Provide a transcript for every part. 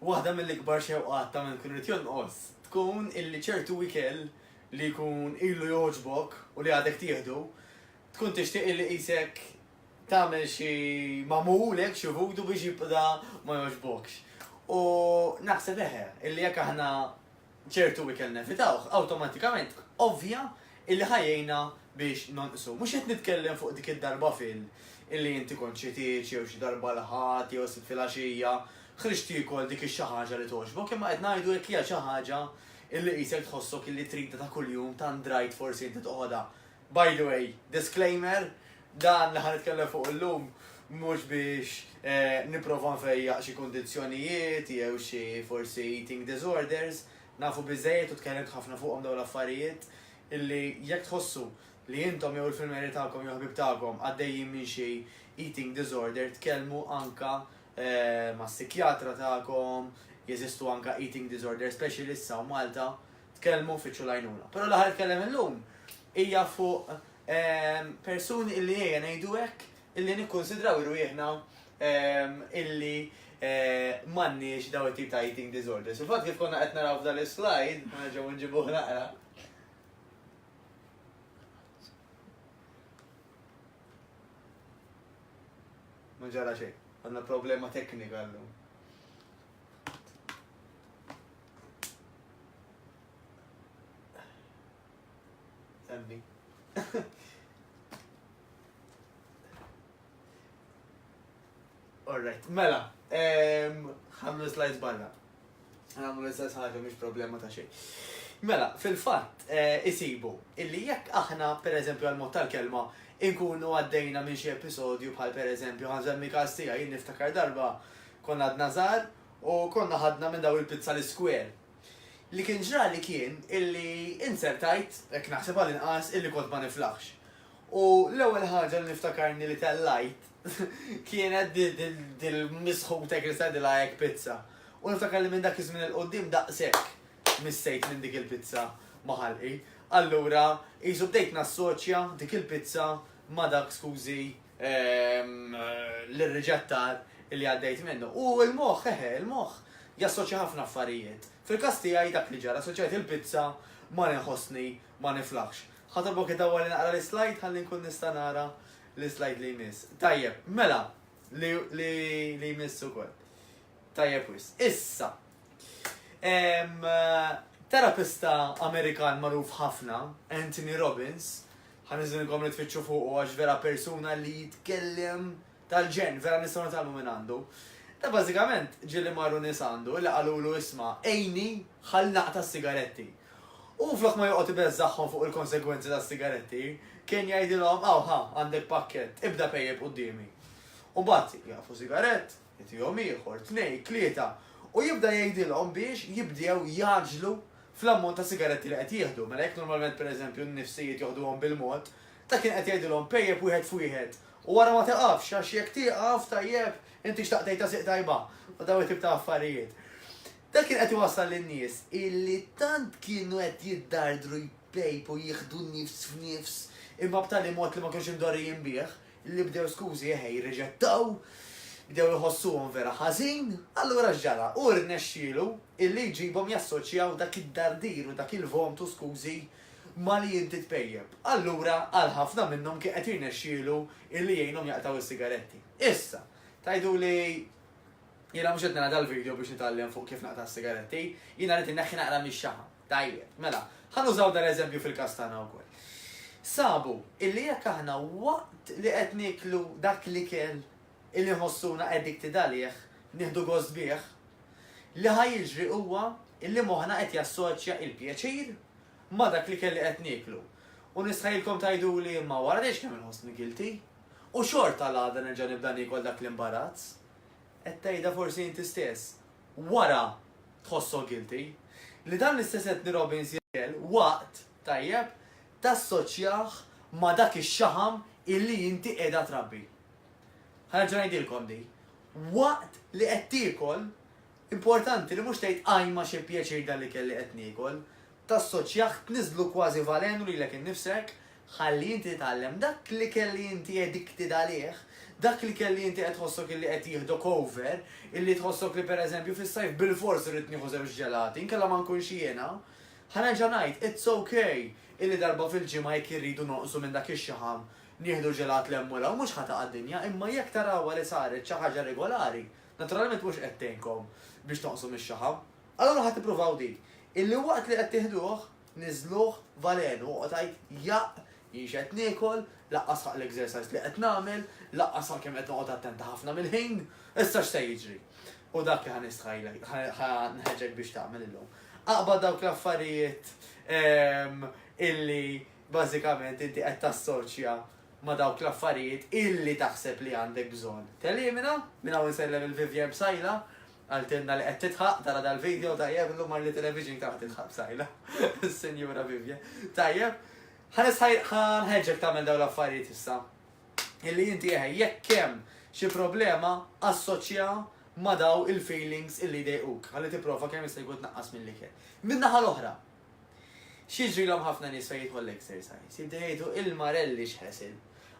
Waħda mill-ikbar xewqat ta' minn ikun irid jonqos tkun illi ċertu ikel li jkun ilu jogħġbok u li għadek tieħdu, tkun tixtieq illi qisek tagħmel xi magħmul hekk xi vudu biex jibda ma jogħġbokx. U naħseb eħe, illi jekk aħna ċertu ikel nevitawh, awtomatikament ovvja illi ħa jgħinna biex nonqsu. Mhux qed nitkellem fuq dik id-darba fil illi inti kont xi tgħix jew xi darba l-Ħadd jew s-Sibt filgħaxija ħriġt tiekol dik ix-xi ħaġa li togħġbok imma qed ngħidu jekk hija xi ħaġa illi qisek tħossok illi tridha ta' kuljum tant drajt forsi inti toħodha By the way, disclaimer, dan li ħa nitkellem fuq illum mhux biex nipprova nfejjaq xi kundizzjonijiet jew xi forsi eating disorders, nafu biżżejjed u tkellimt ħafna fuqhom dawn l-affarijiet illi jekk tħossu li intom jew il-filmeri tagħkom jew ħbieb tagħkom għaddejjin minn xi eating disorder tkellmu anke mas-sikjatra tagħkom, jeżistu anke eating disorder specialists hawn Malta, tkellmu fitxu l-għajnuna. Però l-aħħar tkellem illum hija fuq ehm, persuni illi ejja ngħidu hekk illi nikkonsidraw irwieħna ehm, illi eh, m'għandniex daw it-tip ta' eating disorders. Il-fatt kif konna qed naraw f'dan is-slide, ma nerġgħu nġibuh naqra. Ma ġara xejn, għandna problema teknika llum. Emmi. Alright, mela, ħamlu slides barra. Għamlu l-istess ħaġa mhix problema ta' xejn. Mela, fil-fatt, eh, isibu, illi jekk aħna, per eżempju, għal-mod tal-kelma, inkunu għaddejna minn xi episodju bħal per eżempju, għanżemmi każ tiegħi niftakar darba konna għadna żgħar U konna ħadna minn dawn il-pizza l-iskwel. Li kien ġrali kien illi inzertajt, hekk naħseb għall-inqas, illi kont ma niflaħx. U l-ewwel ħaġa li niftakarni li tellajt kienet dil-misħuta hekk li stajtilha hekk pizza. U niftakar li minn dak iż-żmien 'il quddiem daqshekk missejt minn dik il-pizza ma' ħalqi. Allura qisu bdejt nassoċja dik il-pizza ma' dak skużi l-riġetta li għaddejt minnu. U il-moħ, eħe, il-moħ jassoċja ħafna affarijiet. Fil-kas tiegħi dak li ġara, assoċjajt il-pizza ma nħossni ma niflaħx. Ħatobok id-dawwa li naqra l-slide ħalli nkun nista' nara l-slide li jmiss. Tajjeb, mela, li jmiss ukoll. Tajjeb wis. Issa, terapista Amerikan magħruf ħafna, Anthony Robbins, Ħa niżilkom li tfittxu fuqu għax vera persuna li jitkellem tal-ġenn, vera nistgħu nitgħallmu minn għandu. Ta' bażikament ġieli marru nies għandu li qalulu isma' għinni ħalli naqta' s-sigaretti. U flok ma joqgħod ibeżżagħhom fuq il-konsegwenzi tas-sigaretti, kien jgħidilhom aw ħa għandek pakkett, ibda pejjep quddiemi. U mbagħad jieqfu sigarett, Itihom ieħor, tnejn, tlieta, u jibda jgħidilhom biex jibdew jgħaġġlu fl-ammont ta' sigaretti li qed jieħdu. Mela jekk normalment pereżempju n-nifsijiet joħduhom bil-mod, ta' kien qed jgħidilhom pejjep wieħed f'wieħed u wara ma tiqafx għax jekk tieqaf, tajjeb, inti xtaqt tgħid għasiq tajba, u dawn it-tip ta' affarijiet. Dan kien qed iwassal lin-nies illi tant kienu qed jiddardru jpejpu jieħdu nifs f'nifs imma b'tali mod li ma kinux imdorrijin bih, Li bdew skużi eħe jirriġettaw, bdew iħossuhom vera ħażin, allura x'ġara? Hu rnexxielu illi jġibhom jassoċjaw dak id-dardir u dak il-vomtu skużi ma' li inti tpejjep. Allura għal ħafna minnhom kien qed jirnexxielu illi jgħinhom jaqtgħu s-sigaretti. Issa, tgħiduli jiena mhux qed nara dal-video biex nitgħallem fuq kif naqta' s-sigaretti, jiena rrid inneħħi naqra mix-xaħam. Tajjeb, mela, ħa nużaw dan l-eżempju fil-każ tagħna wkoll. Sabu illi jekk aħna waqt li qed nieklu dak l-ikel illi nħossuna addicted għalih, nieħdu gost bih, li ħa jiġri huwa illi moħħna qed jassoċja l-pjaċir ma' dak l-ikel li qed nieklu. U nistħajilkom tgħiduli imma wara dejx kemm inħossni guilty u xorta l-għada nerġa' nibda niekol dak l-imbarazz. Qed tgħidha forsi inti stess, wara tħossok guilty, li dan l-istess Anthony Robbins jgħidlek waqt, tajjeb, tassoċjah ma' dak ix-xaħam illi inti qiegħda trabbi. Ħa nerġa' ngħidilkom din. Waqt li qed tiekol, importanti li mhux tgħid ajma xi pjaċir dan l-ikel li qed niekol, Tassoċjah tniżżlu kważi valenu lilek innifsek, ħalli inti titgħallem dak l-ikel li inti addicted għalih, dak l-ikel li inti qed tħossok illi qed jieħdok over, illi tħossok li per eżempju fis-sajf bilfors irrid nieħu żewġ ġelati, inkella ma nkunx jiena. Ħa nerġa' ngħid, it's ok illi darba fil-ġimgħa jekk irridu nonqsu minn dak ix-xaħam nieħdu ġelat 'l hemm u 'l hawn, mhux ħa taqa' dinja, imma jekk tarawha li saret xi ħaġa regolari, naturalment mhux qed tgħinkom biex tonqsu mix-xaħam. Allura ħa tippruvaw din, illi waqt li qed tiħduh, niżżluh valenu, oqgħod għid jaqq, jien x'qed niekol, laqqas ħaqq l-exercise li qed nagħmel, laqqas ħaqq kemm qed noqgħod attenta ħafna mill-ħin, issa x'se jiġri? U dak li ħa nistħajlek, ħa nħeġġek biex tagħmel illum. Aqbad dawk l-affarijiet ehm, illi bażikament inti qed tassoċja ma dawk l-affarijiet illi taħseb li għandek bżonn. Telimina, minn hawn insellem il-Vivian Bsajla, Qaltilna li qed tidħaq, tara dal-video, tajjeb, illum mar Little Vision kemm qed tidħaq b'sajla, is-Sinjura Vivian. Tajjeb, ħa nħeġġek tagħmel dawn l-affarijiet issa. Illi inti eħe, jekk hemm xi problema assoċja ma daw il-feelings illi dejquk, ħalli tipprova kemm jista' jkun tnaqqas mill-ikel. Min-naħa l-oħra, X'jiġrilhom ħafna nies fejn jidħol l-exercise? Jibdew jgħidu, il-marelli x'ħesil!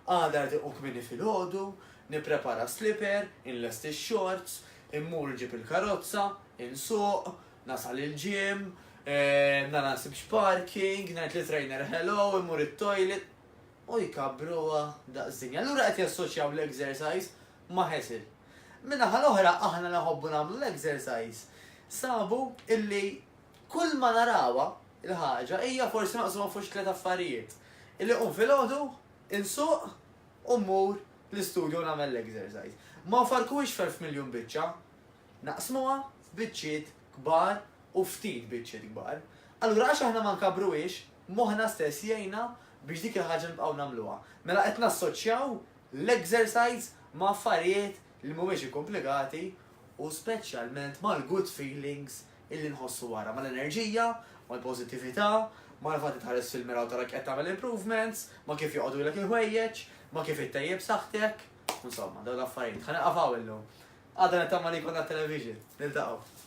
Għada rrid inqum kmieni filgħodu, nipprepara slipper, inlesti x-xorts, immur nġib il-karozza, insuq, nasal il-gym, nara nsibx parking, ngħid lit-trainer hello, immur it-toilet. U jkabbruha daqs dinja. Allura qed jassoċjaw l-exercise ma' ħesil. Min-naħa l-oħra aħna li nħobbu nagħmlu l-exercise sabu illi Kull ma narawha, il-ħaġa, hija forsi maqsuma fuq xi tliet affarijiet, illi nqum filgħodu, insuq u mmur l-istudju nagħmel l-exercise. Ma nfarrkuhiex f'elf miljun biċċa, naqsmuha f'biċċiet kbar u ftit biċċiet kbar. Allura għax aħna ma nkabbruhiex, moħħna stess jgħinna biex dik il-ħaġa nibqgħu nagħmluha. Mela qed nassoċjaw l-exercise ma' affarijiet li mhumiex ikkumplikati u speċjalment mal-good feelings illi nħossu wara, mal-enerġija, mal-pożittività, mal-fatt li tħares fil-mira u tara qed tagħmel improvements, ma' kif joqogħdulek il-ħwejjeġ, ma' kif ittejjeb saħħtek. Insomma, dawn l-affarijiet. Ħa nieqaf hawn illum. Għadha nittama li jkollna television. Niltaqgħu.